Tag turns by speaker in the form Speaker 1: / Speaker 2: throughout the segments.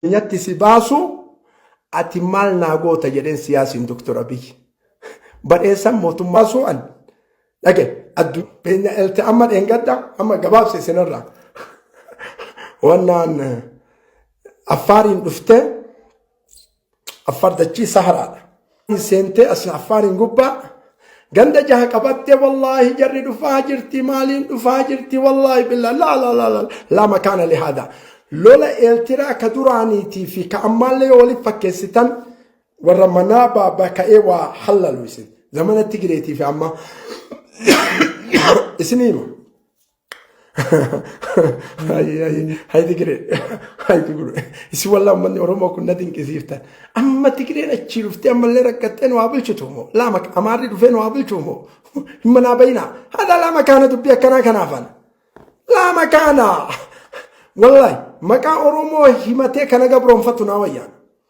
Speaker 1: nyatti si baasu ati maal naa goota jedheen siyaasiin Dr. Abiy. Badheessan mootummaa su'an dhage addunyaa elte amma dheengadda amma gabaabse isinirraa wannaan affaariin dhuftee Affaar dachii saharaadha. Seentee asii affaariin gubbaa ganda jaha qabattee wallaahi jarri dhufaa jirti maaliin dhufaa jirti wallaahi billaa laa laa laa laa laa makaana lihaada. Lola eeltiraa ka duraaniitii fi ka ammaallee yoo waliif fakkeessitan warra manaa baabaa ka'ee waa hallalu isin. Zamana Tigireetii fi ammaa isin hima. Hayi Tigiree, hayi Tigiree. Isi walaa uummanni Oromoo kun na dinqisiiftan. Amma Tigireen achii dhuftee ammallee rakkattee nu haa bulchitu moo? Laama amaarri dhufee nu haa bulchu moo? Hin manaa bayinaa. Haadha laama kaana dubbii akkanaa kanaafan. Laama kaana. Wallahi maqaa Oromoo himatee kana gabroonfattu naa wayyaana.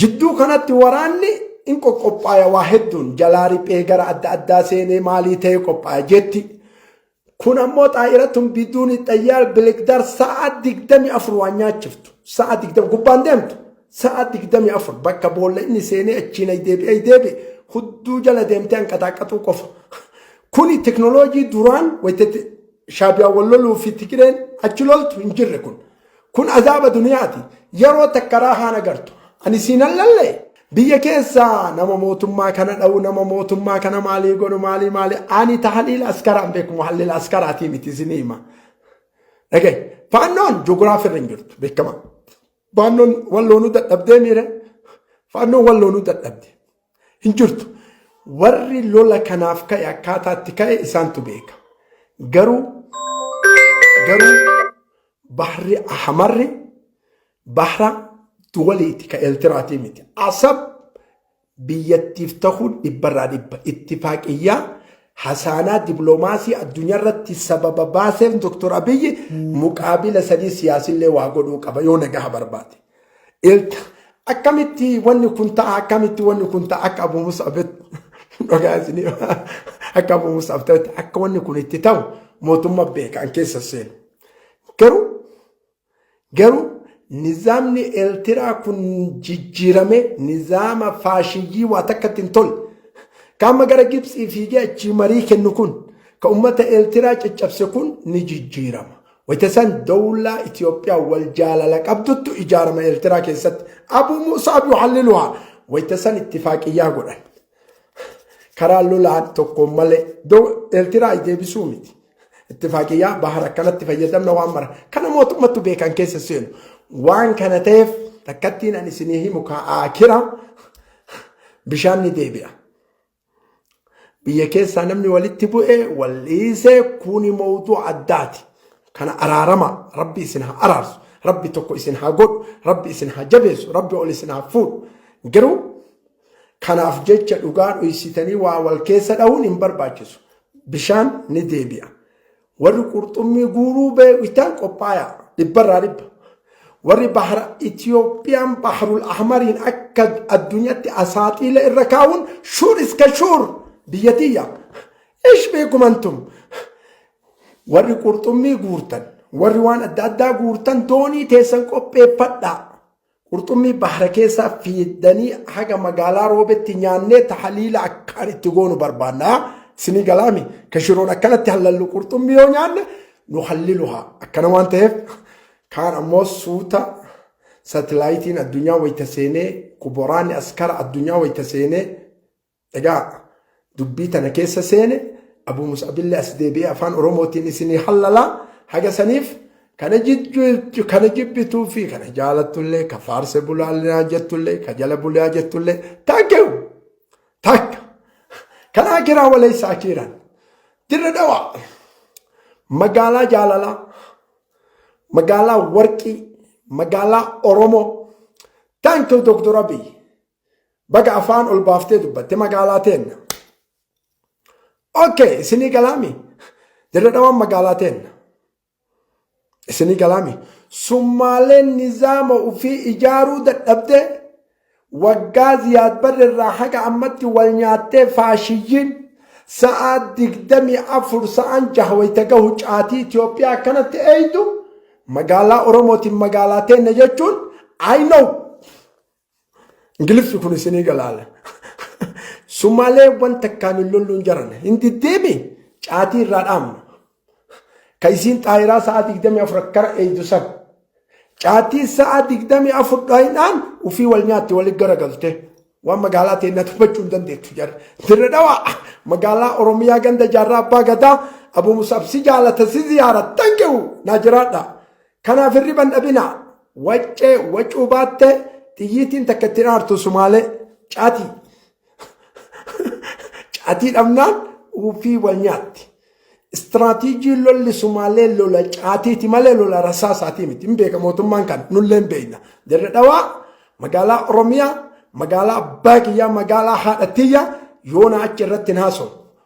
Speaker 1: Jidduu kanatti waraanni in qoqqophaaya waa hedduun jalaa riphee gara adda addaa seenee maalii ta'e qophaaya jetti. Kun ammoo xaayiratun biduun xayyaar bilikdaar sa'a digdami afur waan nyaachiftu. Sa'a digdami gubbaan deemtu. Sa'a digdami afur bakka boolla inni seenee achiin ay deebi'e ay deebi'e hudduu jala deemtee hanqataaqqaxuu qofa. Kuni teknooloojii duraan wayitatti shaabiyaan wal loluu fi Tigireen achi loltu hin jirre kun. Kun azaaba duniyaati. Yeroo takka raahaan agartu. Ani siin allalle biyya keessaa nama mootummaa kana dha'u nama mootummaa kana maalii godhu maalii maalii ani tahaliil askaraan beeku muhallil askaraatii miti isinii hima. Dhagee faannoon joogiraafii irra hin jirtu beekama. Faannoon walloonuu dadhabdee miire faannoon walloonuu dadhabde. Hin jirtu. Warri lola kanaaf ka'e akkaataa itti ka'e isaantu beeka. Garuu garuu bahri ahmarri bahra duwaliiti ka Eertiraatii miti. Asab biyyattiif tahuun dhibbarraa dhibba ittifaaqiyyaa hasaanaa diploomaasii addunyaa irratti sababa baaseef Dr. Abiyyi muqaabila sadii siyaasillee waa godhuu qaba yoo nagaha barbaade. Ilta akkamitti wanni kun ta'a akkamitti wanni kun ta'a akka Abu Mus'ab dhugaa isinii akka Abu Mus'ab ta'etti akka wanni kun itti ta'u mootummaa beekaan keessa seenu. Garuu garuu nizaamni Eertiraa kun jijjiirame nizaama faashiyyii waa takkatti hin tolle. Kaama gara Gibsii fiigee achii marii kennu kun ka ummata Eertiraa caccabse kun ni jijjiirama. Wayita san dawlaa Itoophiyaa wal jaalala qabduttu ijaarama Eertiraa keessatti Abuu Muusaab yuhalliluhaa wayita san ittifaaqiyyaa godhan. Karaa lolaan tokkoon malee Eertiraa deebisuu miti. Ittifaaqiyyaa bahar akkanatti fayyadamna waan mara. Kana mootummattu beekan keessa seenu. Waan kana ta'eef takkattiin ani isinii himu kaa'aa kira bishaan ni deebi'a. biyya keessaa namni walitti bu'e wal dhiise kuni mawduu addaati kana araarama rabbi isin haa araarsu rabbi tokko isin haa godhu rabbi isin haa jabeessu rabbi ol isin haa fuudhu garuu kanaaf jecha dhugaa dhoysitanii waa wal keessa dhahuun hin barbaachisu bishaan ni deebi'a Warri qurxummii guuruu beektan qophaayaa dhibbarraa dhibba. Warri bahara Itiyoophiyaan Baharul Ahmariin akka addunyaatti asaaxiila irra kaa'uun shuur iska shuur biyya tiyya. Ish beekumantum. Warri qurxummii guurtan, warri waan adda addaa guurtan doonii teessan qopheeffadhaa. Qurxummii bahara keessaa fiddanii haga magaalaa roobetti nyaannee tahaliila akkaan itti goonu barbaanna. Sinii galaami ka shiroon akkanatti hallallu qurxummii yoo nyaanne nu halliluha. Akkana waan ta'eef kaan ammoo suuta satilaayitiin addunyaa wayita seenee kuboraanni askara addunyaa wayita seenee Egaa dubbii tana keessa seene Abuu Mus'abillee as deebi'ee afaan Oromootiin isinii hallalaa haga saniif kana jijjiirtu kana jibbituu fi kana jaalattullee ka faarse bulaalaa jettullee ka jala bulaa jettullee takkew takka kan akiraa waleessa akiiraan dirra dhawaa magaalaa jaalalaa magaalaa warqii magaalaa Oromoo thank you Dr. Abiy Baga afaan ol baaftee dubbatte magaalaa teenna. Okay, isinii galaami. Dirree dhawaan magaalaa teenna. Isinii galaami. Summaaleen nizaama ofii ijaaruu dadhabdee waggaa ziyaad barri irraa haga ammatti wal nyaattee faashiyyiin sa'aa digdamii afur sa'aan jaha wayita gahu caatii Itoophiyaa akkanatti eeydu magaalaa Oromootiin magaalaa teenna jechuun I know. Ingiliffi kun isinii galaala. Sumaalee wanta akkaan hin lolluun jaran hin diddeemi caatii irraa dhaamna. Ka isiin xaayiraa sa'a 24 akkara eeydu san. Caatii sa'a 24 dhaayinaan ufii wal nyaatti walitti garagalte. Waan magaalaa ta'e na tuffachuu hin dandeettu jarri. Dirre dhawaa magaalaa Oromiyaa ganda jaarraa abbaa gadaa Abuu Musaab si jaalata si ziyaara tankewu naa jiraadha. Kanaaf hirriban dhabina. Waccee wacuu baatte xiyyiitiin takka ittiin aartu sumaalee caatii. Caatii dhabnaan uufii wal nyaatti. Istiraatiijii lolli sumaalee lola caatiiti malee lola rasaasaatii miti. Hin beeka mootummaan kan nullee hin beekna. Dirre dhawaa magaalaa Oromiyaa magaalaa abbaa kiyyaa magaalaa haadha tiyya yoona achi irratti hin haasawu.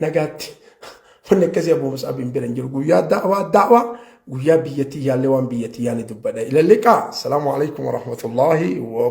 Speaker 1: Nagaatti wanni akkasii Abu Mus'ab hin bira hin jiru. Guyyaa da'waa da'waa guyyaa biyyattii yaallee waan biyyattii yaale dubbadha. Ilalliqaa. Salaamu alaikum wa rahmatullahi wa